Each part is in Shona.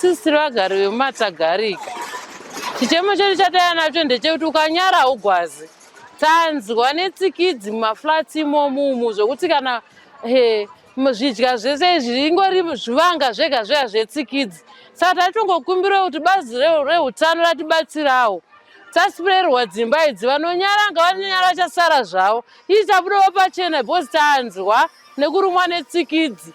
Sisi tiri vagari vemumatagarika. Chichemo chedu chataya nacho ndechekuti ukanyara haugwazi. Tanzwa netsikidzi mumaflats imomu umu zvekuti kana he zvidya zvese izvi ingori zvivanga zvega zvega zvetsikidzi. Saka taitongokumbirawo kuti bazi reutano ratibatsirawo tasipirerwa dzimba idzi vanonyara ngavanonyara chasara zvavo ii tabudawo pachena because tanzwa nekurumwa netsikidzi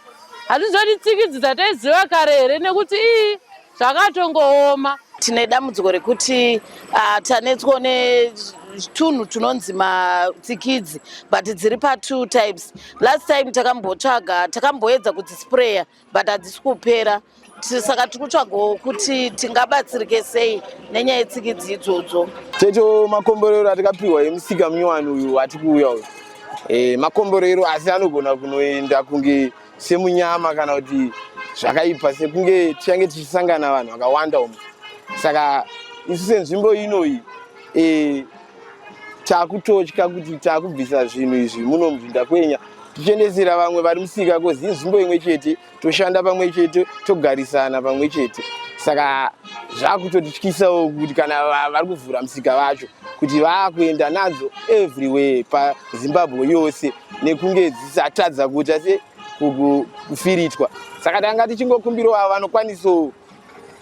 hatizoti tsikidzi dzataiziva kare here nekuti ii zvakatongooma tine dambudziko rekuti uh, tanetswa netunhu tunonzi matsikidzi but dziri patwo types last time takambotsvaga takamboedza kudzisprayer but hadzisi kupera saka tiri kutsvagawo kuti tingabatsirike sei nenyaya yetsikidzi idzodzo checho makomborero atikapiwa emusika munyowani uyu ati kuuya uyu e, makomborero asi anogona kunoenda kunge semunyama kana kuti zvakaipa sekunge tichange tichisangana vanhu vakawanda umu saka isu senzvimbo inoyi e, takutotya kuti takubvisa zvinhu izvi muno mudhinda kwenya tichiendesera vamwe vari musika kozi inzvimbo imwe chete toshanda pamwe chete togarisana pamwe chete saka zvakutotityisawo kuti kana vari kuvhura musika vacho kuti vaakuenda nadzo everywhere pazimbabwe yose nekunge dzisatadza kuita se kufiritwa saka tanga tichingokumbirawo avo vanokwanisawo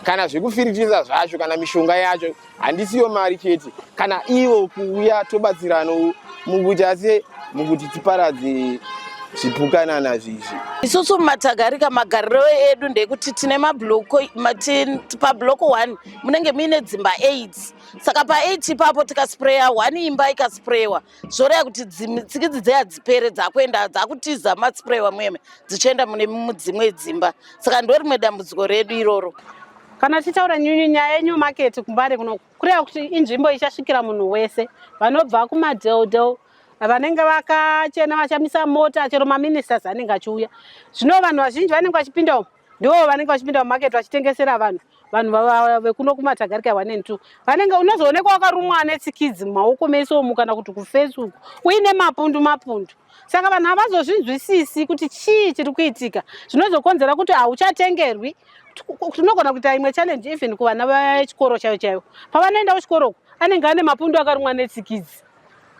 kana zvekufiritisa zvacho kana mishonga yacho handisiyo mari chete kana ivo kuuya tobatsirano mukuita se mukuti tiparadze zvipukanana zvizvi isusu mumatagarika magariro edu ndekuti tine mabloko pabloko one munenge muine dzimba eight saka paeight ipapo tikasprayer one imba ikasprayewa zvoreva kuti tsikidzi dze hadzipere dzakuenda dzakutiza matspray wamweme dzichienda mune mudzimwe dzimba saka ndo rimwe dambudziko redu iroro kana tichitaura nyunyu nyaya yenew market kumbare kuno kureva kuti inzvimbo ichasvikira munhu wese vanobva kumadeldel vanenge vakachena vachamisa mota chero maministers anenge achiuya zvino vanhu vazhinji vanenge vachipinda umu ndivo vanenge vachipinda mumaketi vachitengesera vanhu vanhu vekuno kumatagarika one and two vanenge unozoonekwa wakarumwa anetsikidzi mumaoko mese omu kana kuti kufesi uku uine mapundu mapundu saka vanhu havazozvinzwisisi kuti chii chiri kuitika zvinozokonzera kuti hauchatengerwi tinogona kuita imwe challenge even kuvana vechikoro chaivo chaivo pavanoenda kuchikoro uku anenge ane mapundu akarumwa netsikidzi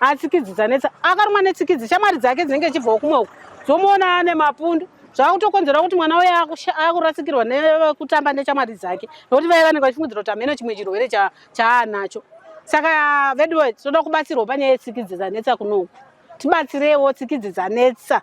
atsikidzi dzanetsa akarumwa netsikidzi shamwari dzake dzinenge chibvawo kumwe uku dzomuona ane mapundu zvakutokonzera kuti mwana uye akurasikirwa nekutamba neshamwari dzake nokuti vaiva vanenge vachifungidzira kuti hameno chimwe chirwere chaanacho saka veduwe tinoda kubatsirwa panyaya yetsikidzi dzanetsa kunoku tibatsirewo tsikidzi dzanetsa